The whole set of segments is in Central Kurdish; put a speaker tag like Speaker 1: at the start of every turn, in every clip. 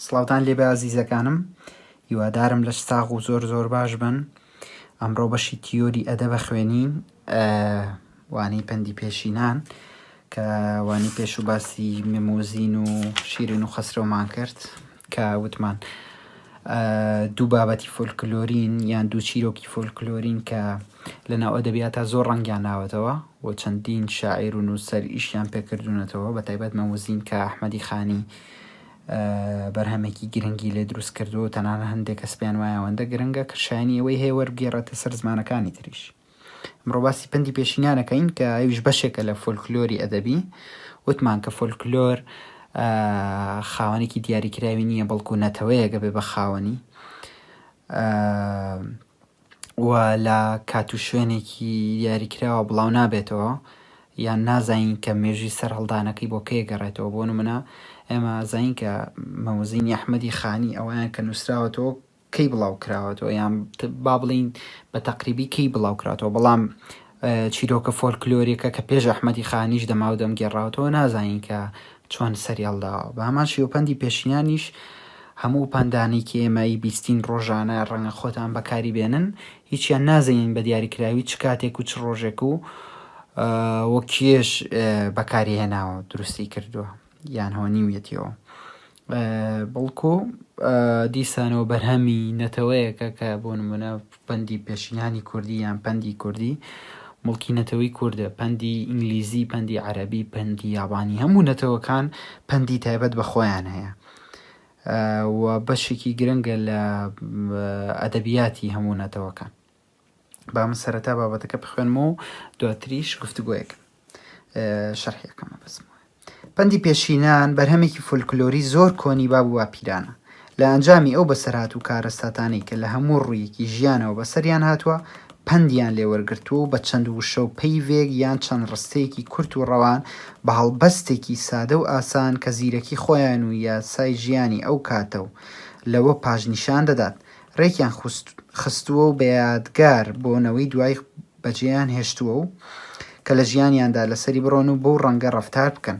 Speaker 1: سڵاوتان لێبێ ئازیزەکانم هیوادارم لەش ساغ و زۆر زۆر باش بن ئەمڕۆ بەشی تیۆری ئەدەبە خوێنین وانەی پەندی پێشینان کە وانی پێش و باسی مموزین و شیرین و خەسرەومان کرد کە وتمان دوو بابەتی فۆلکلۆرین یان دوو چیرۆکی فۆلکلۆرین کە لەناو ئەدەبیاتا زۆر ڕەنگیان ناوەتەوە و چەندین شاعیر و نووسەر ئیشیان پێکردوونەتەوە بە تایبەت مەموزین کە ئەحمەدی خانی بەرهەمێکی گرنگی لێ دروست کردو تەنانە هەندێک کەس پێیان وایە ئەوەندە گرنگە کە شایانی ئەوەی هەیە وەربگێڕێتە سەر زمانەکانی تریش ئەمڕۆ باسی پەندی پێشینانەکەین کە ئەویش بەشێکە لە فۆلکلۆری ئەدەبی وتمان کە فۆلکلۆر خاوەنێکی دیاریکراوی نییە بەڵکو نەتەوەیەگە بێ بە خاوەنی و لە کات و شوێنێکی دیاریکراوە بڵاو نابێتەوە یان نازانین کە مێژوی سەر هەڵدانەکەی بۆ کێ گەڕێتەوە بۆ نمونە ئێمە زین کە مەوزینی ئەحمەدی خانی ئەویان کە نووسراوەتەوە کەی بڵاو کراوەتەوە یان با بڵێین بە تەقریبی کەی بڵاو کراتەوە بەڵام چیرۆکە فۆلکلۆریەکە کە پێش ئەحمەدی خانیش دەماو دەم گێڕاوتەوە نازانین کە چۆن سەری هەڵداوە بە هەمان شێوپەندی پێشینانیش هەموو پندانی کە ئێمەی بیستین ڕۆژانە ڕەنگە خۆتان بەکاری بێنن هیچیان نازانین بە دیاریکراوی چ کاتێک و چ ڕۆژێک و وەکیێش بەکاری هێناوە دروستی کردووە یان هۆنیویەتیەوە بەڵکو دیسانەوە بەرهەمی نەتەوەیەکە کە بۆ نمونە پەندی پێشینانی کوردی یان پەندی کوردی مڵکی نەتەوەی کووردە پەندی ئینگلیزی پەندی عەربی پەندی یابانی هەموو نەتەوەکان پەندی تایبەت بە خۆیان هەیە و بەشێکی گرنگە لە ئەدەبیاتی هەموو نەتەوەکان با من سەرەتا بابەتەکە بخوێنمەوە و دواتریش گفتوگۆیەکەم شەرحیەکەمە بەسمەوە پەندی پێشینان بەرهەمێکی فولکلۆری زۆر کۆنی باب و باپیرانە لە ئەنجامی ئەو بەسەرهات و کارەساتانەی کە لە هەموو ڕوویەکی ژیانەوە بەسەریان هاتووە پەندیان لێوەرگرتووە و بە چەند وشە و پەیڤێک یان چەند ڕستەیەکی کورت و ڕەوان بە هەڵبەستێکی سادە و ئاسان کە زیرەکی خۆیان و یاسای ژیانی ئەو کاتە و لەوە پاش نیشان دەدات ڕێکیان خستووە و بە یادگار بۆ نەوەی دوای بەجێیان هێشتووە و کە لە ژیانیاندا لەسەری بڕۆن و بەو ڕەنگە ڕەفتار بکەن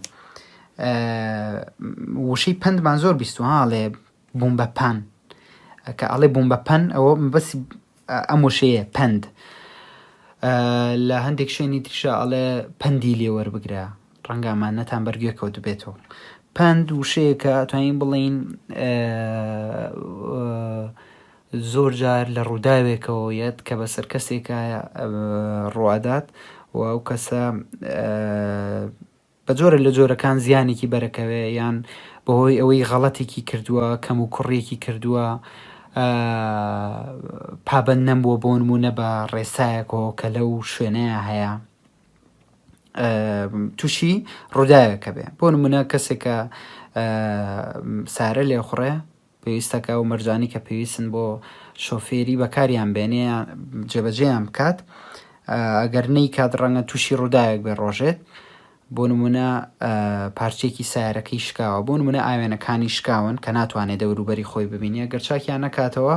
Speaker 1: وشەی پەندمان زۆر بیستوە هاڵێ بووم بە پان کە ئەڵێ بووم بە پەن ئەوە بەس ئەم وشەیە پەند لە هەندێک شوێنی تریشە ئەڵێ پەندی لێوەربگرە ڕەنگە ئەمانەتان بەر گوێ کەوتبێتەوە پەند وشەیەکە توانین بڵین زۆر جار لە ڕووداوێکەوە یەت کە بە سەر کەسێکە ڕوادات و ئەو کەسە بە جۆرە لە جۆرەکان زیانێکی بەرەکەوێ یان بەهۆی ئەوەی غەڵەتێکی کردووە کەم و کوڕێکی کردووە پابەن نەمبووە بۆ نمونە بە ڕێسایەکەوە کە لەو شوێنەیە هەیە تووشی ڕووداوێکە بێ بۆ نمونە کەسێکە سارە لێ خوڕێ پێویستەکە و مەرجانی کە پێویستن بۆ شۆفێری بەکاریان بێنێ جێبەجێیان بکات ئەگەر نەی کات ڕەنگە تووشی ڕووداوێک بێ ڕۆژێت بۆ نمونە پارچێکی سارەکەی شکاوە بۆ نمونە ئاوێنەکانی شکاون کە ناتوانێت دەوروبەری خۆی ببینە گەرچاکیان نەکاتەوە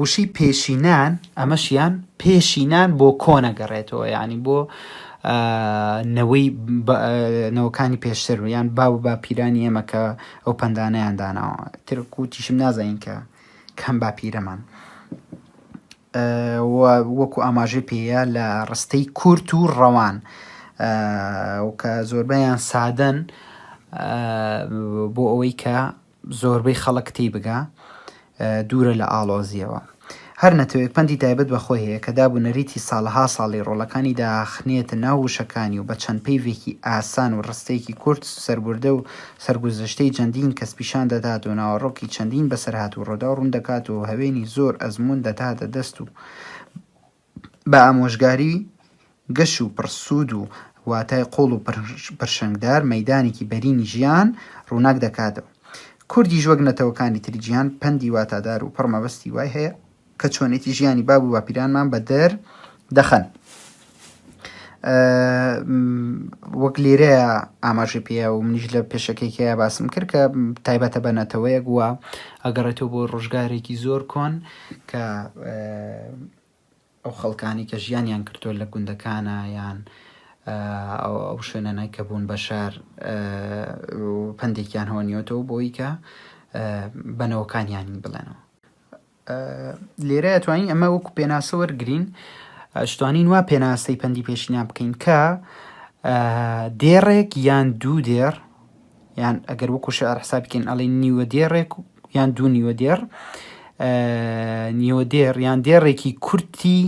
Speaker 1: وشەی پێشینان ئەمەش یان پێشینان بۆ کۆن ئەگەڕێتەوە یانی بۆ نەوەی نەوەکانی پێشتر و یان باو باپیرانی ئێمە کە ئەو پەندانیان داناوە ترکوتیشم نازانین کە کەم باپیرەمان وەکو ئاماژەی پێەیە لە ڕستەی کورت و ڕەوان کە زۆربەیان سادەن بۆ ئەوەی کە زۆربەی خەڵک تیبگا دوورە لە ئاڵۆزییەوە. هەر نەتەوەیەک پەندی تایبەت بە خۆی هەیە کە داب و نەریتی ساڵەها ساڵی ڕۆڵەکانی داخنێتە ناو وشەکانی و بە چەند پەیڤێکی ئاسان و ڕستەیەکی کورت سەربوردە و سەرگوزشتەی جەندین کەس پیشان دەدات و ناوەڕۆکی چەندین بەسەرهات و ڕووداو ڕوون دەکات و هەوێنی زۆر ئەزموون دەداتە دەست و بە ئامۆژگاری گەش و پڕ سوود و واتای قووڵ و پرشنگدار مەیدانێکی بەرینی ژیان ڕووناک دەکاتەوە. کوردیش وەک نەتەوەکانی تری جیهان پەندی واتادار و پڕ مەبەستی وای هەیە کە چۆنێتی ژیانی باب و باپیرانمان بە دەر دەخەن. وەک لێرەیە ئاماژەی پێیە و منیش لە پێشەکێکەیە باسم کرد کە تایبەتە بە نەتەوەیەک و ئەگەڕێتەوە بۆ ڕۆژگارێکی زۆر کۆن. کە ئەو خەڵکانەی کە ژیانیان کردووە لە گوندەکانە یان ئەو شوێنانای کە بوون بە شار پندێکیان هۆنیۆتەوە بۆی کە بەنەوەکانیانی بڵێنەوە لێرە توانین ئەمە وەکو پێناسە وەرگین شتوانین وا پێناسەی پەندی پێشینان بکەین کە دێڕێک یان دوو دێڕ یان ئەگەر وەکو شعر حسابی کەین ئەڵێ نیوە دێڕێک یان دوو نیوە دێڕ نیوە دێڕ یان دێڕێکی کورتی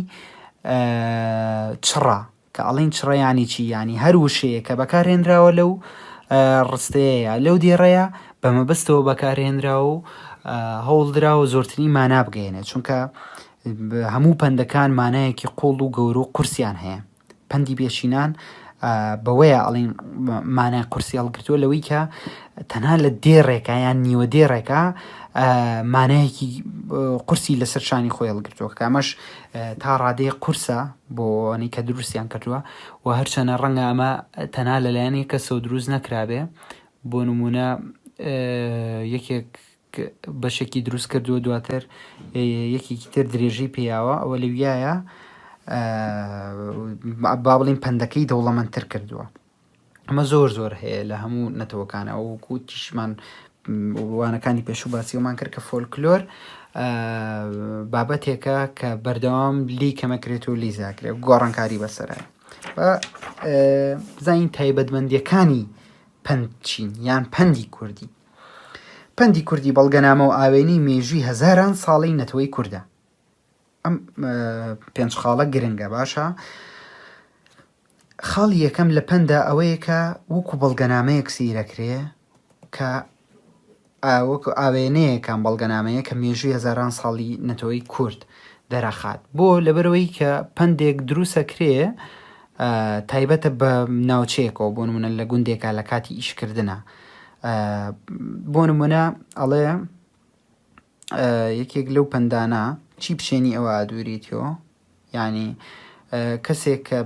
Speaker 1: چڕە کە ئەڵین چڕیانی چی ینی هەر وشەیە کە بەکارهێنراوە لەو ڕستەیە لەو دێڕەیە بە مەبەستەوە بەکارهێنراوە و هەوڵدراوە زۆرتری مانا بگەێنێت چونکە هەموو پەندەکان مانایەکی قوڵ و گەورە و قورسیان هەیە پەندی بێچینان بەوەیە ئەڵین مانای قورسی هەڵگرتووە لەوەی کە تەنها لە دێڕێکە یان نیوە دێڕێکە مانایەکی قورسی لەسەر شانی خۆی هەڵگرتووە کامەش تا ڕادەیە قورسە بۆنی کە دروستیان کردووە و هەرچەنە ڕەنگە ئەمە تەنها لەلایەنی کەسەوە دروست نەکرابێ بۆ نمونە یەکێک بەشێکی دروست کردووە دواتر یەکێکی تر درێژەی پێیاوە ئەوە لەویایە با بڵین پەندەکەی دەوڵەمەندتر کردووە ئەمە زۆر زۆر هەیە لە هەموو نەتەوەکان ئەو کوتیشمان وانەکانی پێشوو باسیەوەمان کرد کە فۆلکلۆر بابەتێکە کە بەردەوام لی کەمەکرێت و لی زاکرێت گۆڕانکاری بەسرە زین تایبەتمەندیەکانی پەند چین یان پەندی کوردی پەندی کوردی بەڵگەنامە و ئاوێنەی مێژووی هەزاران ساڵەی نەتەوەی کوردە. ئەم پێنج خاڵە گرنگە باشە. خاڵی یەکەم لە پەندا ئەوەیە کە وەکو بەڵگەنامەیەک سیرەکرێ کە وەکو ئاوێنەیەکان بەڵگەنامەیە کە مێژووی هەزاران ساڵی نەتەوەی کورد دەرەخات بۆ لەبەرەوەی کە پندێک دروسەکرێ تایبەتە بە ناوچەیەکەوە بۆ نمونە لە گوندێکە لە کاتی ئیشکردە بۆ نمونە ئەڵێ یەکێک لەو پندانە چی پشێنی ئەوە ئادووریتەوە ینی کەسێک کە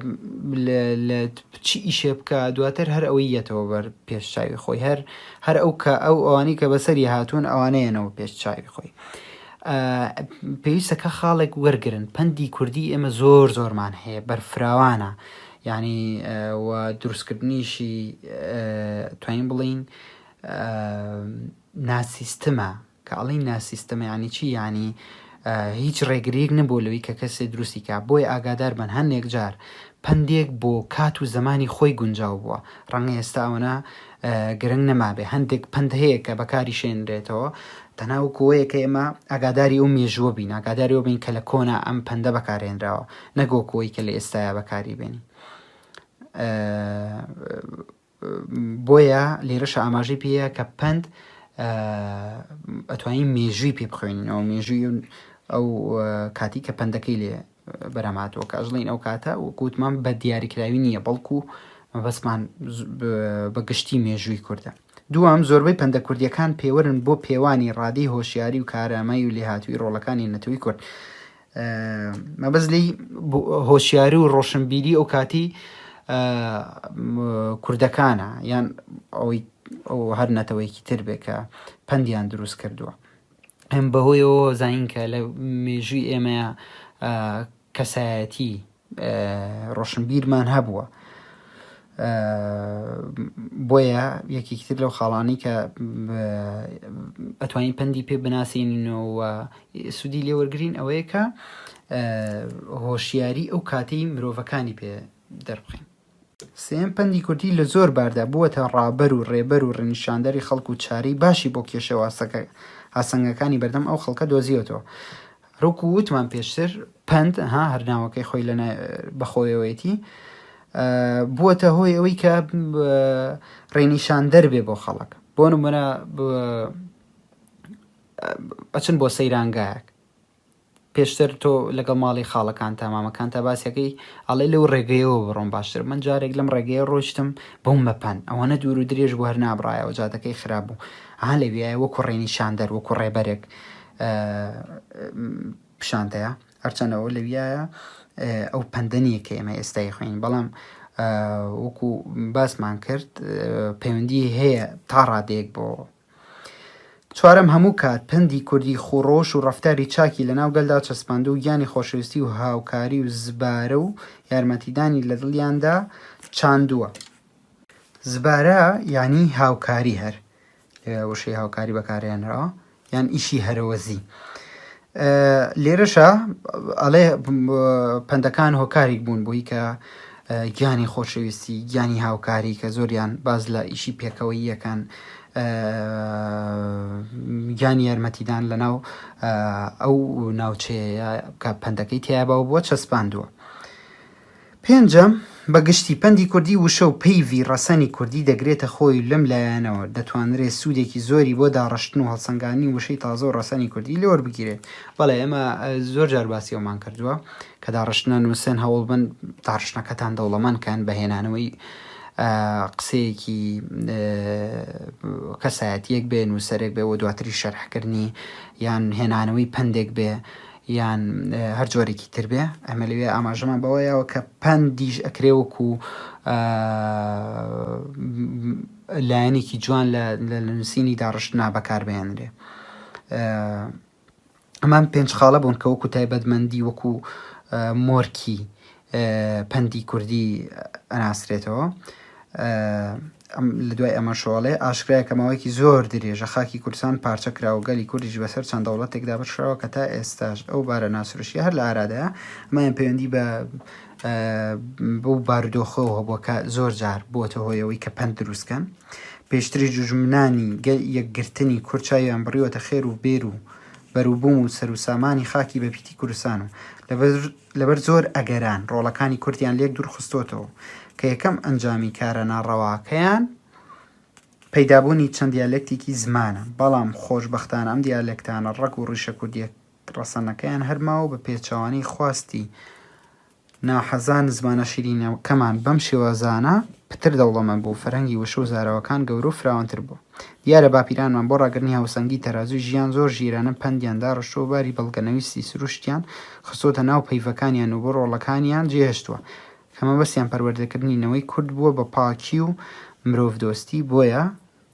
Speaker 1: لە چی ئیشێ بکە دواتر هەر ئەوەی یەتەوە بەر پێش چاوی خۆی هەر هەر ئەو کە ئەو ئەوانی کە بەسەری هاتوون ئەوانەیەنەوە پێش چاوی خۆی پێویستە کە خاڵێک وەرگرن پەندی کوردی ئێمە زۆر زۆرمان هەیە بەرفراوانە یعنی دروستکردنیشی توانین بڵین ناسیستمە کە ئەڵی ناسیستمە ینی چی ینی هیچ ڕێگریک نەبوو لەوی کە کەسێ دروستی کا بۆی ئاگادار بن هەندێک جار پندێک بۆ کات و زمانی خۆی گونجاو بووە ڕەنگە ئێستا ئەوەنە گرنگ نەمابێ هەندێک پەند هەیە کە بەکاری شێنرێتەوە تەنها و کۆیە کە ئێمە ئەگاداری ئەو مێژووە بین ئاگاداری بین کە لە کۆنا ئەم پەندە بەکارێنراوە نەگۆ کۆی کە لە ئێستایا بەکاری بێنی بۆیە لێرەش ئاماژەی پێەیە کە پند ئەتوانین مێژووی پێ بخوێنینەوە مێژووی ئەو کاتی کە پندەکەی لێ بەرهەم هاتووە کە ئەژڵێین ئەو کاتە وەکو وتمان بە دیاریکراوی نییە بەڵکو مەبەستمان بە گشتی مێژووی کوردە دوام زۆربەی پەندە کوردیەکان پێوەرن بۆ پێوانی ڕادی هۆشیاری و کارامای و لێهاتووی ڕۆڵەکانی نەتەوەی کورد مەبەز لی هۆشیاری و ڕۆشنبیری ئەو کاتی کوردەکانە یان ئەوەی ئەو هەر نەتەوەیەکی تر بێ کە پەندیان دروست کردووە ئەم بەهۆیەوە زانین کە لە مێژووی ئێمە کەسایەتی ڕۆشنبیرمان هەبووە بۆیە یەکێکتر لەو خاڵانی کە ئەتوانین پەندی پێ بناسیینەوە سوودی لێوەرگین ئەوەیە کە هۆشیاری ئەو کاتەی مرۆڤەکانی پێ دەربخین سێیەم پەندی کوردی لە زۆر باردا بووەتە ڕابەر و ڕێبەر و ڕێنیشاندەری خەڵک و چارەی باشی بۆ کێشە و ئاسنگەکانی بەردەم ئەو خەڵکە دۆزیوەتەوە. روکو وتمان پێشتر پەند ها هەر ناوەکەی خۆی لە بەخۆیەوەیەتی بووەتە هۆی ئەوەی کە ڕێنیشان دەربێ بۆ خەڵک بۆ نمونە ئەچن بۆ سەیرانگایەک پێشتر تۆ لەگەڵ ماڵی خاڵەکانتا مامەکانتا باسیەکەی ئەڵێ لەو ڕێگەیەوە بڕۆم باشتر من جارێک لەم ڕێگەیە ڕۆشتم بۆم مەپان ئەوەنە دوور و درێژ بوو هەر نابڕایەوە جادەکەی خراپ بوو ها لەویایە وەکو ڕێنی شاندەر وەکو ڕێبەرێک پیشانتەیە هەرچەندەوە لەویایە ئەو پەندەنیە کە ئێمە ئێستای خوێنین بەڵام وەکو باسمان کرد پەیوەندی هەیە تا ڕادێک بۆ چوارەم، هەموو کات پەندی کوردی خوو ڕۆش و ڕەفتاری چاکی لە ناو گەلدا چەسپاندو گیانی خۆشەویستی و هاوکاری و زبارە و یارمەتیدانی لە دڵیاندا چاندووە. زبارە یانی هاوکاری هەر لێرە وشەی هاوکاری بەکارهێنراوە یان ئیشی هەرەوەزی. لێرەشا ئەڵێ پەندەکان هۆکاریک بوون بۆی کە گیانی خۆشەویستی گیانی هاوکاری کە زۆریان باز لە ئیشی پێکەوەییەکان گیانی یارمەتیدان لە ناو ئەو ناوچەیە کە پەندەکەی تیابا و بۆ چەسپاندووە پێنجەم، بە گشتی پەندی کوردی وشە و پەیڤی ڕەسەنی کوردی دەگرێتە خۆی و لەم لایەنەوە دەتوانرێ سوودێکی زۆری بۆ داڕشتن و هەڵسەنگاندنی وشەی تازە و ڕەسەنی کوردی لێ وەربگیرێت. بەڵێ ئێمە زۆر جار باسی ئەوەمان کردووە کە داڕشتنە نووسن هەوڵ بن داڕشتنەکەتان دەوڵەمەند کەن بە هێنانەوەی قسەیەکی کەسایەتیەک بێ نووسەرێک بێ و دواتری شەرحکردنی یان هێنانەوەی پەندێک بێ یان هەر جۆرێکی تر بێ ئەمە لەوێ ئاماژەمان بەوە یاوە کە پەندیش ئەکرێ وەکو لایەنێکی جوان لە نووسینی داڕشتنا بەکاربیێنرێ ئەمان پێنج خاڵە بوون کە وەکو تایبەتمەندی وەکو مۆرکی پەندی کوردی ئەناسرێتەوە. لە دوای ئەمەشەوە ئەڵێ، ئاشکرایە کە ماوەیەکی زۆر درێژە خاکی کوردستان پارچە کرا و گەلی کوردیش بەسەر چەند دەوڵەتێک دابەشکراوە کە تا ئێستاش ئەو بارە ناسروشتییە هەر لە ئارادایە. ئەمەیان پەیوەندی بە بەو بارودۆخەوە هەبووە کە زۆر جار بووەتە هۆی ئەوەی کە پەند دروست بکەن. پێشتریش دوژمنانی یەکگرتنی کورد چاویان بڕیوەتە خێر و بێر و بەروبووم و سەروسامانی خاکی بەپیتی کوردستان و لەبەر زۆر ئەگەران ڕۆڵەکانی کوردیان لێک دوورخستۆتەوە کە یەکەم ئەنجامی کارە ناڕەواکەیان پەیدابوونی چەند دیالەکتێکی زمانە بەڵام خۆشبەختانە ئەم دیالەکتانە ڕەگ و ڕیشە کوردیە ڕەسەنەکەیان هەرماوە بە پێچەوانەی خواستی ناحەزان زمانە شیرینەکەمان بەم شێوازانە پتر دەوڵەمەند بوو فەرهەنگی وشە و زاراوەکان گەورە و فراوانتر بوو. دیارە باپیرانمان بۆ ڕاگرتنی هاوسەنگی تەرازووی ژیان زۆر ژیرانە پەندیان داڕشتووە و باری بەڵگەنەویستی سروشتیان خستۆتە ناو پەیڤەکانیان و بۆ ڕۆڵەکانیان جێهێشتووە کە مەبەستیان پەروەردەکردنی نەوەی کورد بووە بە پاکی و مرۆڤدۆستی بۆیە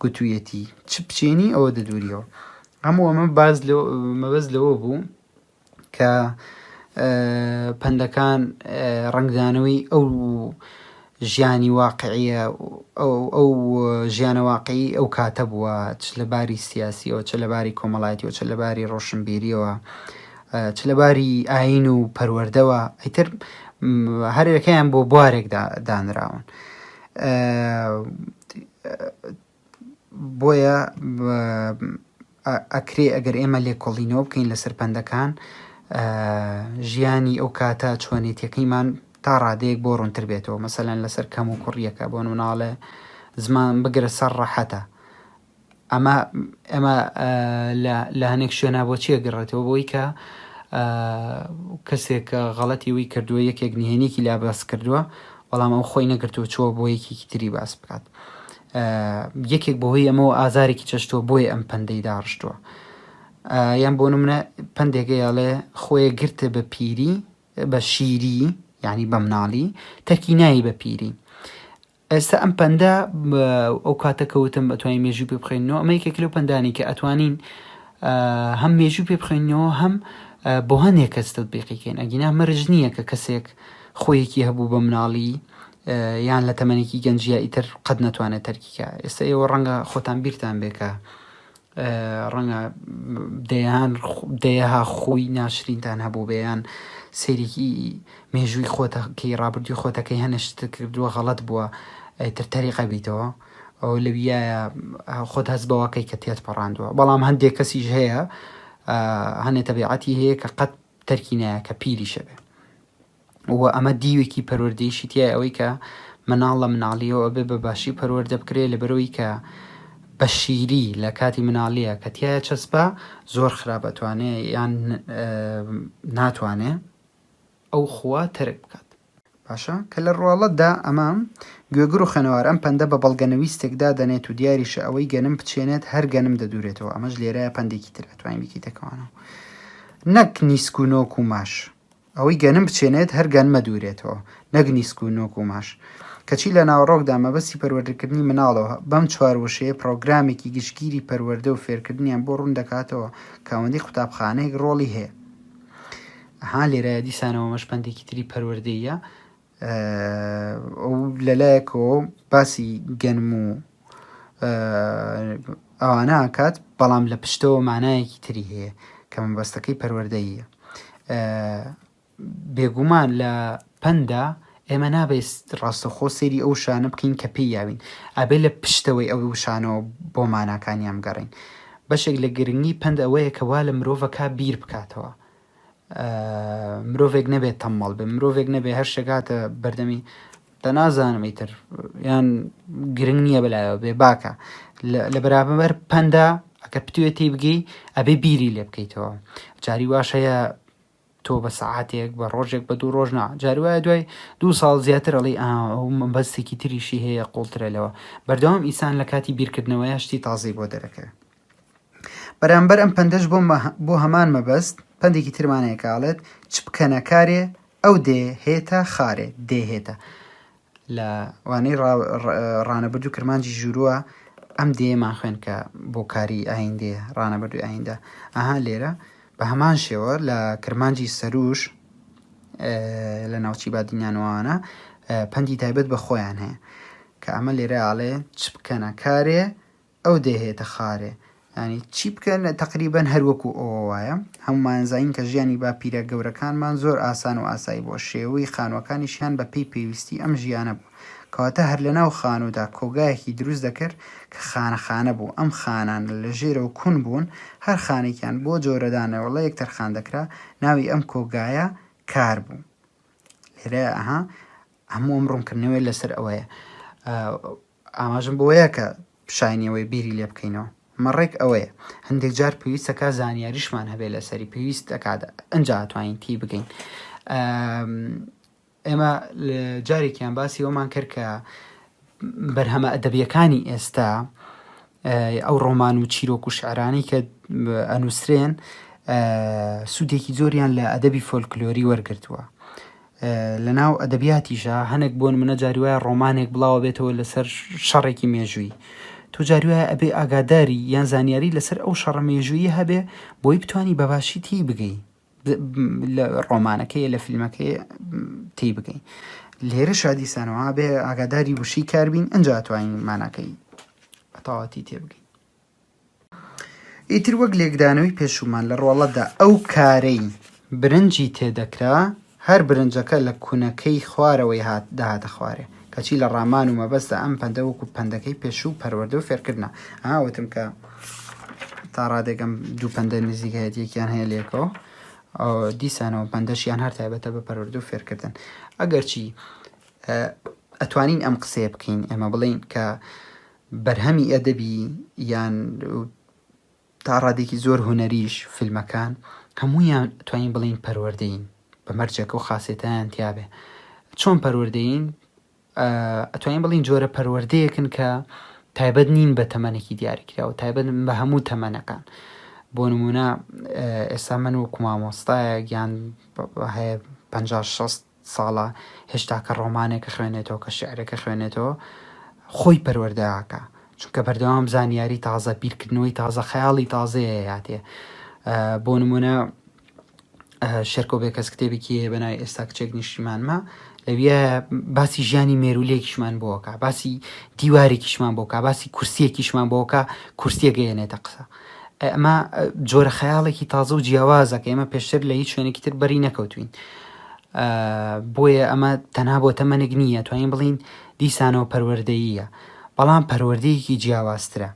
Speaker 1: گوتوویەتی چ بچێنی ئەوە دەدووریەوە هەموو ئەمە باس لەوە مەبەست لەوە بوو کە پەندەکان ڕنگدانەوەی ئەو ژیانی واقعیە ئەو ژیانە واقعی ئەو کاتە بووە چ لە باری سیاسیەوە چ لە باری کۆمەڵایەتیەوە چ لە باری ڕۆشنبیریەوە چ لە باری ئاین و پەروەەردەوە ئەیتر هەرەکەیان بۆ بوارێک دانراون بۆیە ئەکرێ ئەگەر ئێمە لێکۆڵینەوە بکەین لەسەر پەندەکان ژیانی ئەو کاتە چۆنێتیەکەیمان تا ڕادەیەک بۆ ڕوونتر بێتەوە مەسەلەن لەسەر کەم و کوڕیەکە بۆ مناڵێ زمان بگرە سەر ڕەحەتە ئەمە ئەمە لە هەنێک شوێنە بۆ چیە گەڕێتەوە بۆی کە کەسێک غەڵەتی وی کردووە یەکێک نهێنێکی لا باس کردووە بەڵام ئەو خۆی نەگرتووە چووە بۆ یەکێکی تری باس بکات یەکێک بەهۆی ئەمەوە ئازارێکی چەشتووە بۆیە ئەم پەندەی داڕشتووە یان بۆ نمونە پندێکە یاڵێ خۆیە گرتە بە پیری بە شیری یعنی بە مناڵی تەرکی نایی بە پیری ئێستا ئەم پەندە ئەو کاتە کەوتم ئەتوانین مێژوو پێ بخێنەوە ئەمە یەکێک لەو پندانی کە ئەتوانین هەم مێژوو پێ بخێنەوە هەم بۆ هەنێک کەس تەبیقیکەین ئەگینا مەرج نییە کە کەسێک خۆیەکی هەبوو بە مناڵی یان لە تەمەنێکی گەنجیا ئیتر قەت نەتوانێت تەرکیکە ئێستا ئێوە ڕەنگە خۆتان بیرتان بێکە ڕەنگە دەیان دەیەها خۆی ناشرینتان هەبوو بەیان سێرێکی مێژووی خۆتەکەی ڕابردوی خۆتەکەی هەنشت کردووە غەڵت بووە ئەیتر تەریقە بیتەوە ئەو لەویە خۆت هەست بەوەکەی کە تێت پەڕاندووە بەڵام هەندێک کەسیش هەیە هەنێ تەبیعەتی هەیە کە قەت تەرکی نایە کە پیریشە بێ و ئەمە دیوێکی پەروەردەیشی تیای ئەوەی کە مناڵ لە مناڵیەوە ئەبێ بە باشی پەروەردە بکرێ لەبەرەوەی کە بە شیری لە کاتی مناڵیە کە تایە چەسپا زۆر خراپ ئەتوانێ یان ناتوانێ ئەو خوا تەرک بکات باشە کە لە ڕواڵەتدا ئەمە، گوێگر و خوێنەوار، ئەم پەندە بە بەڵگەنەویستێک دادەنێت و دیاریشە ئەوەی گەنم بچێنێت هەر گەنم دەدورێتەوە، ئەمەش لێرەیە پەندێکی تر ئەتوانی بیکەیتە کەوانەوە نەک نیسک و نۆک و ماش. ئەوەی گەنم بچێنێت هەر گەنمە دورێتەوە نەک نیسک و نۆک و ماش. کەچی لە ناوەڕۆکدا مەبەستی پەروەردەکردنی مناڵەوە بەم چوار وشەیە پڕۆگرامێکی گشتگیری پەروەردە و فێرکردنیان بۆ ڕوون دەکاتەوە کە ئەوەندەی قوتابخانەیەک ڕۆڵی هەیە. ئەها لێرایە دیسان ئەوەمەش پەندێکی تری پەروەردەییە ئەو لەلایەکەوە باسی گەنم و ئەوانە ئاکات بەڵام لە پشتەوە مانایەکی تری هەیە کە مەبەستەکەی پەروەردەیە بێگومان لە پەندا ئێمە نابێت ڕاستەخۆ سێری ئەو شانە بکەین کە پێی یاوین ئەبێ لە پشتەوەی ئەو وشانەوە بۆ ماناکانیان گەڕین بەشێک لە گرنگی پند ئەوەیە کە وا لە مرۆڤەکە بیر بکاتەوە مرۆڤێک نەبێت تەممەڵ بێ مرۆڤێک نەبێ هەر شتێک هاتە بەردەمی دە نازانم ئیتر یان گرنگ نییە بەلایەوە بێ باکە لە بەرابەر پەندا ئەگەر پتوێ تی بگەی ئەبێ بیری لێ بکەیتەوە جاری واش هەیە تۆ بە سەعاتێک بە ڕۆژێک بە دوو ڕۆژنا جاری وایە دوای دوو ساڵ زیاتر ئەڵی بەستێکی تریشی هەیە قوڵترە لەوە بەردەوام ئیسان لە کاتی بیرکردنەوەیە شتی تازەی بۆ دەرەکەوێت بەرامبەر ئەم پەندەش بۆ بۆ هەمان مەبەست پەندێکی ترمان هەیە کاڵێت چ بکەنە کارێ ئەو دێ هێتە خارێ دێ هێتە لە وانەی ڕانەبرد و کرمانجی ژورووە ئەم دێمان خوێن کە بۆ کاری ئایندێ ڕانەبردوی ئایندە ئەها لێرە بە هەمان شێوە لە کرمانجی سەروش لە ناوچی بادینیانوانە پەندی تایبەت بە خۆیان هەیە کە ئەمە لێرە ئاڵێ چ بکەنە کارێ ئەو دەیهێتە خارێ یانی چی بکەن تەقریبەن هەر وەکو ئەوە وایە هەمومان زانین کە ژیانی باپیرە گەورەکانمان زۆر ئاسان و ئاسایی بووە شێوەی خانووەکانیشیان بە پێی پێویستی ئەم ژیانە بوو کەواتە هەر لەناو خانوودا کۆگایەکی دروست دەکرد کە خانە خانە بوو ئەم خانانە لە ژێرەوە کون بوون هەر خانێکیان بۆ جۆرە دانەوەڵەیەک تەرخان دەکرا ناوی ئەم کۆگایە کار بوو لێرەیە ئەها هەموو ئەم ڕوونکردنەوەی لەسەر ئەوەیە ئاماژەم بەوەیە کە شایەنی ئەوەی بیری لێ بکەینەوە. مەڕێک ئەوەیە هەندێک جار پێویست دەکات زانیاریشمان هەبێت لەسەری، پێویست دەکات ئەنجا ئەتوانین تێی بگەین. ئێمە جارێکیان باسی ئەومان کرد کە بەرهەمە ئەدەبیەکانی ئێستا ئەو ڕۆمان و چیرۆک و شعرانی کە ئەنووسرێن سوودێکی زۆریان لە ئەدەبی فۆلکلۆری وەرگتووە لە ناو ئەدەبیاتیشا هەنێک بۆن منە جاری وایە ڕۆمانێک بڵاوە بێتەوە لەسەر شەڕێکی مێژووی تۆ جاری وایە ئەبێ ئاگاداری یان زانیاری لەسەر ئەو شەڕە مێژووی هەبێ بۆی بتانی بەباشی تی بگەی لە ڕۆمانەکەی لە فیلمەکەی تی بگەی لێرە شادیسانەوە بێ ئاگاداری وشی کاربین ئەجا توانین ماناکەی بەتەواتی تێبگەی ئیتر وەک لێکدانەوەی پێشوومان لە ڕۆڵەدا ئەو کارەی برنجی تێ دەکرا، هەر برنجەکە لە کونەکەی خوارەوەی هات دەهاتە خوارێ. کەچی لە ڕامان و مەبەستدا ئەم پەندە وەکوو پەندەکەی پێشوو پەروەردە و فێرکردنە. ها وتم کە تا ڕادێک ئەم دوو پەندە نزیکایەتیەکیان هەیە لێکەوە. دیسانەوە پەندەشیان هەر تایبەتە بە پەروەردە و فێرکردن. ئەگەرچی ئەتوانین ئەم قسەیە بکەین ئێمە بڵین کە بەرهەمی ئەدەبی یان تا ڕادێکی زۆر هونەریش فیلمەکان هەموویان توانین بڵین پەروەردەین بە مەرجەکە و خاصێتیان تیاابێ چۆن پەروەردەین ئەتوانین بڵین جۆرە پەروەردەیەکن کە تایبەت نین بە تەمەنێکی دیاریکرا و تایبەت بە هەموو تەمەنەکان بۆ نمونە ئێستا من و کومامۆستایە گیان هەیە پ ساڵە هێشتا کە ڕۆمانێک ئەخوێنێتەوە کە شیعرێک ئەخوێنێتەوە خۆی پەروەردە ئەکا چونکە بەردەوام زانیاری تازە بیرکردنەوەی تازە خەیاڵی تازەیە هاتێ بۆ نمونە شێرکۆ بێکەس کتێبێکی هەیە بەنای ئێستا کچێک نیشتیمانمە لەویە باسی ژیانی مێرولێکیشمان بۆکە باسی دیوارێکیشمان بۆکە باسی کورسیەکیشمان بۆکە کورسیە گەیەنێتە قسە ئەمە جۆرە خەیاڵێکی تازە و جیاوازە کە ئێمە پێشتر لە هیچ شوێنێکی تر بەری نەکەوتوین بۆیە ئەمە تەنها بۆ تەمەنێک نییە توانین بڵین دیسانەوە پەروەردەییە بەڵام پەروەردەیەکی جیاوازترە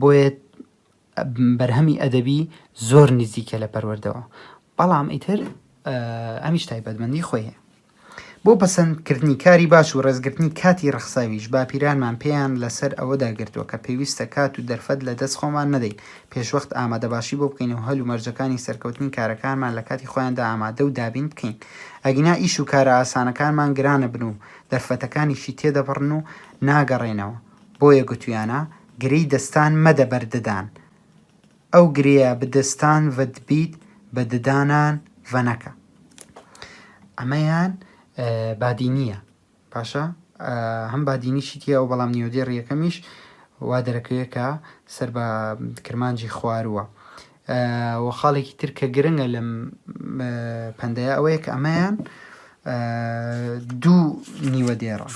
Speaker 1: بۆیە بەرهەمی ئەدەبی زۆر نزیکە لە پەروەردەوە بەڵام ئیتر ئەمیش تایبەتمەندی خۆیە بۆ پەسەند کردنی کاری باش و ڕێزگرتنی کاتی ڕەخساویش، باپیرانمان پێیان لە سەر ئەوەدا گرتووە کە پێویستە کات و دەرفەت لە دەست خۆمان نەدەین، پێشوەخت ئامادەباشی بۆ بکەین و هەل و مەرجەکانی سەرکەوتنی کارەکانمان لە کاتی خۆیاندا ئامادە و دابین بکەین، ئەگینا ئیش و کارە ئاسانەکانمان گران ئەبن و دەرفەتەکانیشی تێدەپەڕن و ناگەڕێنەوە، بۆیە گوتویانە، گرێی دەستان مەدە بەر ددان. ئەو گرێە بدەستان ڤەد بیت بە ددانان ڤەنەکە. ئەمەیان بادینیە باشە هەم بادینی شیتیە و بەڵام نیۆدێ ڕیەکەمیش وا دەرەکەوێ کە سەر بە کرمانجی خوارووە و خاڵێکی تر کە گرنگە لەم پەندەیە ئەوەیە کە ئەمەیان دوو نیوە دێڕە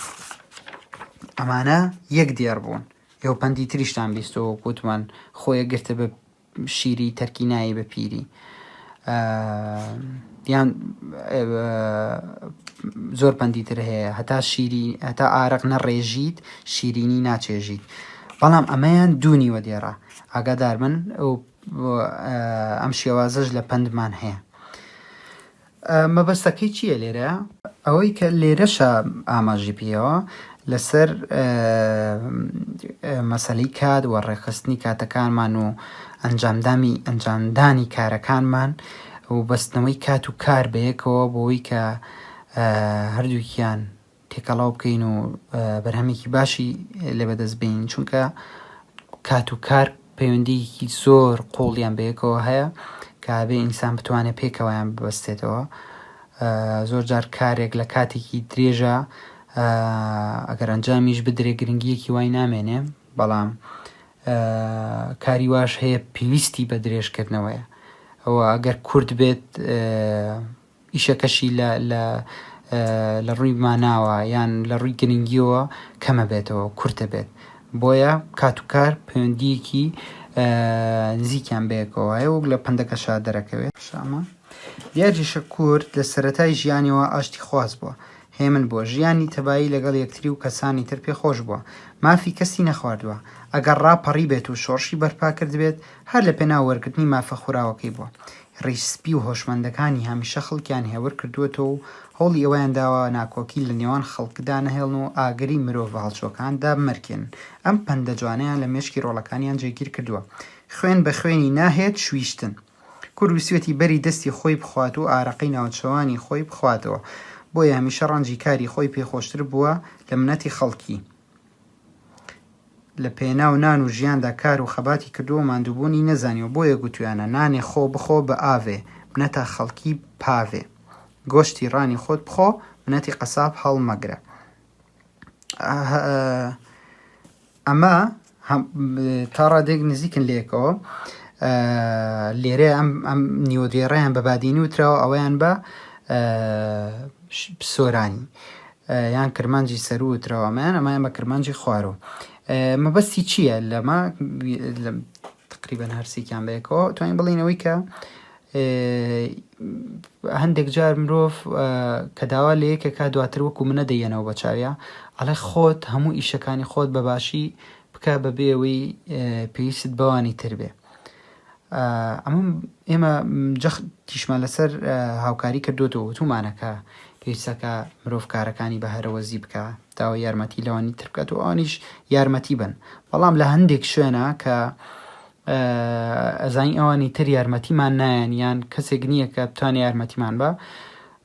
Speaker 1: ئەمانە یەک دێڕ بوون یۆ پەندی تریشتان بیستۆ وەکو وتمان خۆیە گرتە بە شیری تەرکی نایی بە پیری یان زۆر پەندی تر هەیە هەتا شیری هەتا ئارەق نەڕێژیت شیرینی ناچێژیت بەڵام ئەمەیان دوونی وە دێڕە ئاگادار من ئەم شێوازەش لە پەندمان هەیە مەبەستەکەی چییە لێرە؟ ئەوەی کە لێرەشە ئاماژەی پێیەوە لەسەر مەسەلەی کات و ڕێکخستنی کاتەکانمان و ئەنجامدامی ئەنجامدانی کارەکانمان و بەستنەوەی کات و کار بەیەکەوە بۆی کە هەردووکیان تێکەڵاو بکەین و بەرهەمێکی باشی لێ بەدەست بین چونکە کات و کار پەیوەندیکی زۆر قوڵیان بەیەکەوە هەیە کابێ ئینسان بتوانێت پێکەوەیان ببەستێتەوە زۆر جار کارێک لە کاتێکی درێژە ئەگەر ئەنجامیش بدرێ گرنگیەکی وای نامێنێ بەڵام کاری واش هەیە پێویستی بە درێژکردنەوەیە ئەوە ئەگەر کورد بێت ئیشەکەشی لە لە لە ڕووی ماناوە یان لە ڕووی گرنگیەوە کەمە بێتەوە کورتە بێت بۆیە کات و کار پەیوەندیەکی نزیکیان بەیەکەوە هەیە وەک لە پەندەکەشا دەرەکەوێت شامە دیاریشە کورد لە سەرەتای ژیانیەوە ئاشتی خواز بووە هێمن بووە ژیانی تەبایی لەگەڵ یەکتری و کەسانی تر پێ خۆش بووە مافی کەسی نەخواردووە ئەگەر ڕاپەڕیبێت و شۆڕشی بەرپا کردبێت هەر لە پێناو وەرگرتنی مافە خوراوەکەی بووە ریش سپی و هۆشمەندەکانی هەمیشە خەڵکیان هێور کردووەتەوە و هەوڵی ئەوەیان داوە ناکۆکی لە نێوان خەڵک دانەهێڵن و ئاگری مرۆڤە هەڵچووەکان دابمرکێنن. ئەم پەندە جوانەیان لە مێشکی رۆڵەکانیان جێگیر کردووە. خوێن بە خوێنی ناهێت شویشتن. کورد ویستویەتی بەری دەستی خۆی بخوات و ئارەقەی ناوچەوانی خۆی بخواتەوە. بۆیە هەمیشە رەنجی کاری خۆی پێ خۆشتر بووە لە منەتی خەڵکی. لە پێناو نان و ژیاندا کار و خەباتی کردووە و ماندووبوونی نەزانیوە بۆیە گوتوویانە، نانێ خۆ بخۆ بە ئاڤێ، منەتا خەڵکی پاڤێ. گۆشتی ڕانی خۆت بخۆ، منەتی قەساب هەڵمەگرە. ئەمە تا ڕادێک نزیکن لەیەکەوە. لێرە ئەم نیوە دێڕیان بە بادینی وتراوە ئەویان بە سۆرانی. یان کرمانجی سەروو وتراوە ئەمەیان ئەمەیان بە کرمانجی خوارو مەبەستی چییە لەمە تقریبەن هەرسێکیان بەیەکەوە توانین بڵینەوەی کە هەندێک جار مرۆڤ کە داوا لە یەکێکا دواتر وەکو منە دەیەنەوە بە چاویا ئەڵێ خۆت هەموو ئیشەکانی خۆت بەباشی بکە بەبێەوەی پێویست بەوانی تر بێ ئەمە ئێمە جەختیشمان لەسەر هاوکاری کردوەوە وتومانە کە پێویستەکە مرۆڤ کارەکانی بە هەرەوەزی بکە داوە یارمەتی لەوانی ترکات و ئەوانیش یارمەتی بن بەڵام لە هەندێک شوێنە کە ئەزانی ئەوانی تر یارمەتیمان نایەن یان کەسێک نییە کە بتوانێت یارمەتیمان بە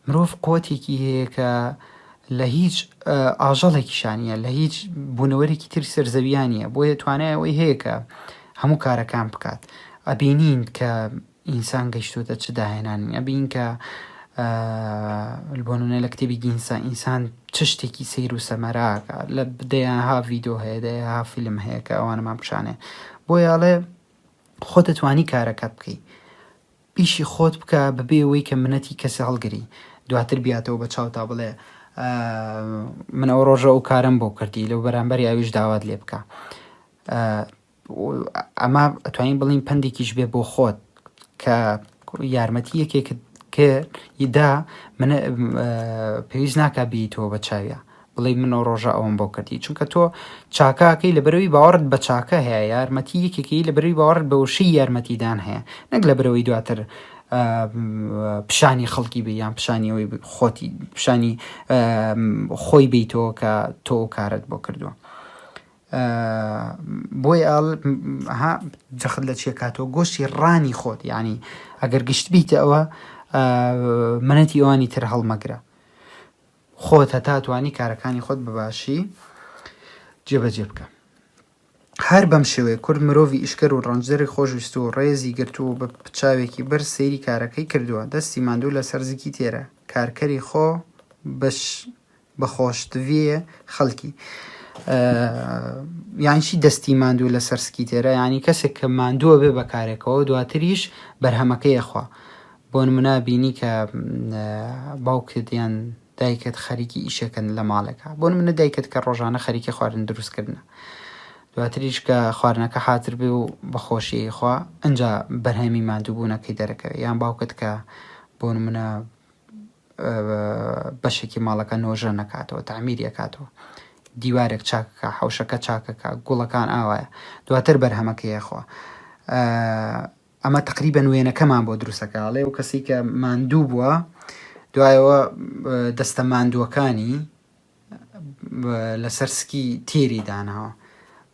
Speaker 1: مرۆڤ قوتێکی هەیە کە لە هیچ ئاژەڵێکیشا نییە، لە هیچ بوونەوەرێکی تری سەر زەویا نییە، بۆیە توانای ئەوەی هەیە کە هەموو کارەکان بکات. ئەبینین کە ئینسان گەیشتووەتە چ داهێنانێک، ئەبینین کە بۆ نموونە لە کتێبی گینسا ئینسان چ شتێکی سەیر و سەمەراکە، لە دەیانها ڤیدیۆ هەیە، دەیانها فیلم هەیە کە ئەوانەمان پیشان دەدەن. بۆیە ئەڵێ خۆت دەتوانی کارەکەت بکەی. ئیشی خۆت بکە بەبێ ئەوەی کە منەتی کەسی هەڵگری دواتر بیاتەوە بە چاوتا بڵێ من ئەو ڕۆژە ئەو کارەم بۆ کردی لەو بەرامبەری ئەویش داوات لێ بکە ئەمە ئەتوانین بڵین پندێکیش بێ بۆ خۆت کە یارمەتی یەکێکت کە یدا منە پێویست ناکە بیتەوە بە چاویە بڵێی من ئەو ڕۆژە ئەوەم بۆ کردی چونکە تۆ چاکاکەی لە بەرەوی باوەڕت بە چاکە هەیە یارمەتی یەکێکی لە بەرەوی باوەڕت بە وشەی یارمەتیدان هەیە نەک لە بەرەوەی دواتر پیشانی خەڵکی بێ یان پیشانیەوەی خۆتی پیشانی خۆی بیتەوە کە تۆ کارت بۆ کردووە بۆی ئەڵ جەخت لە چیە کاتەوە گۆشتی ڕانی خۆت ینی ئەگەر گشت بیتەوە منەتی ئەوانی تر هەڵمەگرە خۆت هەتا توانی کارەکانی خۆت بە باشی جێبەجێ بکە. هەر بەم شێوەیە کورد مرۆڤی ئیشکەر و ڕەنجدەری خۆشویست و ڕێزی گرتوو و بە چاوێکی بەر سەیری کارەکەی کردووە، دەستی ماندوو لەسەر زگی تێرە، کارکەری خۆ بەش بە خۆشتڤیێ خەلکی. یانی چی دەستی ماندوو لەسەر سکی تێرە؟ یانی کەسێک کە ماندووە بێ بە کارێکەوە دواتریش بەرهەمەکەی ئەخوا. بۆنمونە بینی کە باوکت یان دایکت خەریکی ئیشەکەن لە ماڵێکە بۆن منە دایکت کە ڕۆژانە خەریکی خواردن دروستکردنە دواتریش کە خواردنەکە حاتر بێ و بەخۆشی خوا ئەجا بەرهەمی مادووبوونەکەی دەرەکەوێت یان باوکت کە بۆن منە بەشێکی ماڵەکە نۆژە نەکاتەوە تعمیریەکاتەوە دیوارێک چاکەکە حوشەکە چاکەکە گوڵەکان ئاوایە دواتر بەرهەمەکەیەخوا ئەمە تەقریبەن وێنەکەمان بۆ دروستەکە ئەڵێ و کەسی کە ماندوو بووە دوایەوە دەستە ماندووەکانی لەسەر سکی تێری داناوە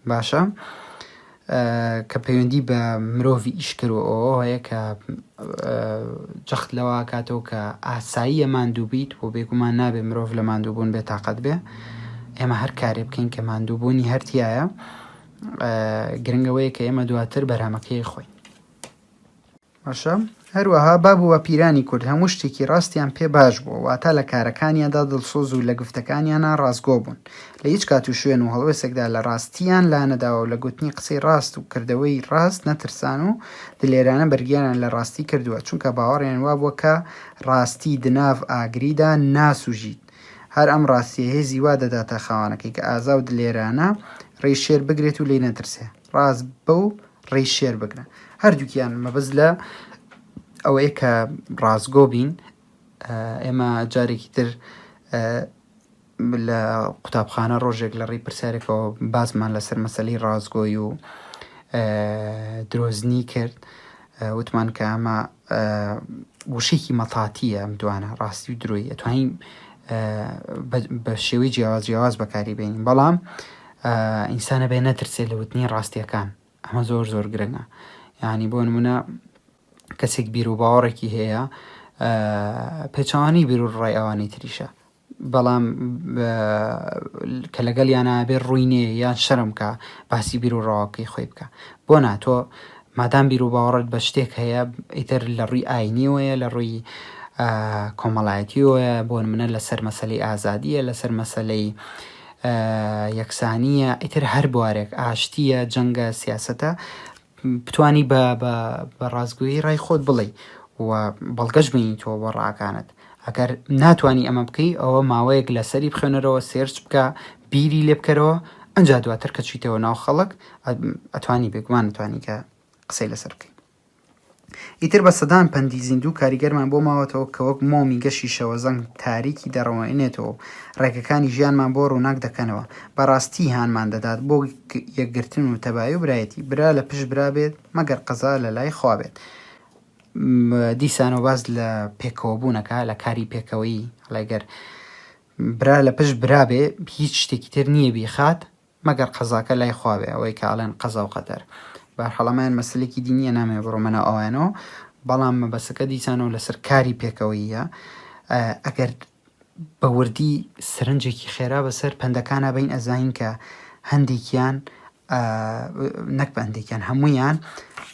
Speaker 1: باشە کە پەیوەندی بە مرۆڤی ئیشکەوە ئەوە هەیە کە جەخت لەوە کاتەوە کە ئاساییە ماندوو بیت و بێگومان نابێ مرۆڤ لە ماندووبوون بێ تااقەت بێ ئێمە هەر کارێ بکەین کە ماندووبوونی هەرتیایە گرنگ ئەوەیە کە ئێمە دواتر بەرهەمەکەی خۆین باشە هەروەها باب و باپیرانی کورد هەموو شتێکی ڕاستیان پێ باش بووە واتا لە کارەکانیاندا دڵسۆز و لە گفتەکانیانە ڕاستگۆ بوون لە هیچ کات و شوێن و هەڵوێسێکدا لە ڕاستیان لا نەداوە و لە گوتنی قسەی ڕاست و کردەوەی ڕاست نەترسان و دلێرانە بەرگیانیان لە ڕاستی کردووە چونکە باوەڕیان وابووە کە ڕاستی دناڤ ئاگریدا ناسوژیت هەر ئەم ڕاستییە هێزی وا دەداتە خاوەنەکەی کە ئازا و دلێرانە ڕێی شێر بگرێت و لێی نەترسێ. ڕاست بە و ڕێی شێر بگرە. هەردووکیان مەبەست لە ئەوەیە کە ڕاستگۆ بین. ئێمە جارێکی تر لە قوتابخانە ڕۆژێک لە ڕێی پرسیارێکەوە باسمان لەسەر مەسەلی ڕاستگۆی و درۆزنی کرد. وتمان کە ئەمە وشەیەکی مەتاتیە ئەم دوانە ڕاستی و درۆی ئەتوانین بە شێوەی جیاواز جیاواز بەکاری بێنین بەڵام ئینسانە بێ نەترسێ لە وتنی ڕاستیەکان ئەمە زۆر زۆر گرنگە یعنی بۆ نمونە کەسێک بیر و باوەڕێکی هەیە پێچوانی بیر و ڕای ئەوانی تریشە بەڵام کە لەگەڵیانا بێ ڕووی نێ یان شەرم کا باسی بیر و ڕەواکەی خۆی بکە بۆ نا تۆ مادام بیر و باوەڕت بە شتێک هەیە ئیتر لە ڕووی ئاینیەوەیە لە ڕووی کۆمەڵایەتیەوەیە بۆ منە لەسەر مەسلەی ئازادیە لەسەر مەسلەی یەکسانیە ئیتر هەر بوارێک ئاشتیە جەنگە سیاستە بتوانی بە بە بە ڕاستگۆیی ڕای خۆت بڵێی و بەڵگەش بینیتەوە بۆ ڕاکانت ئەگەر ناتوانی ئەمە بکەی ئەوە ماوەیەک لەسەری بخوێنەرەوە سێرچ بکە بیری لێ بکەرەوە ئەجا دواتر کە چیتەوە ناو خەڵک ئەتوانی بێگومان توانی کە قسەی لەسەر بکەی ئیتر بە سەدان پەندی زیندوو کاریگەرمان بۆ ماوەتەوە کە وەک مۆمی گەشی شەوەزەنگ تاریکی دەڕەوێنێتەوە و ڕێگەکانی ژیانمان بۆ ڕووناک دەکەنەوە. بەڕاستی هانمان دەدات بۆ یەکگرتن و تەبایی و برایەتی. برا لە پشت برا بێت مەگەر قەزا لە لای خوا بێت. دیسانەوە باس لە پێکەوەبوون ئەکا، لە کاری پێکەوەیی. ئەڵێ گەر برا لە پشت برا بێ هیچ شتێکی تر نییە بیخات. مەگەر قەزاکە لای خوا بێ ئەوەی کە ئەڵێن قەزا و قەدەر بەهەرحاڵ ئەمەیان مەسەلێکی دینیە نامەوێ بڕۆمە ناو ئەوانەوە بەڵام مەبەسەکە دیسانەوە لەسەر کاری پێکەوەییە ئەگەر بە وردی سەرنجێکی خێرا بەسەر پەندەکانە بین ئەزانین کە هەندێکیان نەک بەندێکیان هەمویان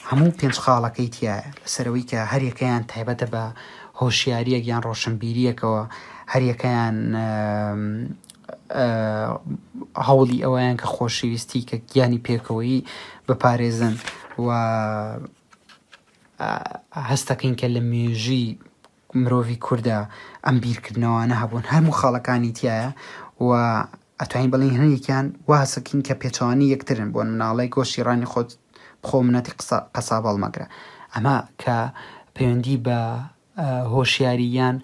Speaker 1: هەموو پێنج خاڵەکەی تایە لەسەرەوەی کە هەریەکەیان تایبەتە بە هۆشیاریەک یان ڕۆشنبیریەکەوە هەریەکەیان هەوڵی ئەوەیان کە خۆشەویستی کە گیانی پێکەوەیی بپارێزن و هەستەکەین کە لە مێژی مرۆڤی کووردا ئەم بیرکردنەوانە هەبوون هەموو خاڵەکانی تایە و ئەتوانین بڵین هەنێکیان واسەکین کە پێچوانی یەکترن بۆن مناڵی گۆشتی ڕانی خۆت بخۆ منەتی قسە قەسا بەڵمەگرە ئەمە کە پەیوەندی بە هۆشیاری یان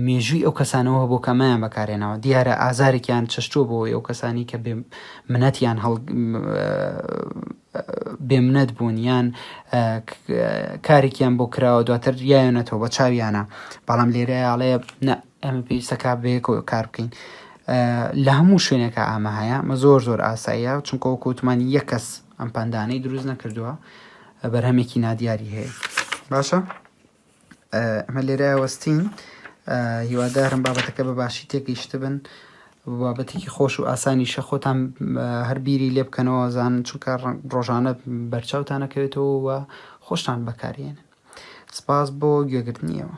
Speaker 1: مێژووی ئەو کەسانەوه بۆ کە ئەمەیان بەکارهێناوە دیارە ئازارێکیان چەشتووە بۆ ئەو کەسانی کە بێ منەتیان هەڵ بێ منەت بوون یان کارێکیان بۆ کراوە دواتر یاەتەوە بە چاویانە بەڵام لێرەیاڵەیە ئەمە پێویستەکە بەیەکەوە کار بکەین لە هەموو شوێنەکە ئامە هەیە مە زۆر زۆر ئاساییە چونکە وەکوتمان یە کەس ئەم پندانەی دروست نەکردووە بەرهەمێکی نادیاری هەیە باشە ئەمە لێرە وەستین هیوادارم بابەتەکە بە باشی تێگەیشتبن بابەتێکی خۆش و ئاسانیشە خۆتان هەر بیری لێ بکەنەوە زان چونکە ڕۆژانە بەرچاوتانەکەوێتەوە و خۆشتان بەکارێنن سپاس بۆ گوێگرتنیەوە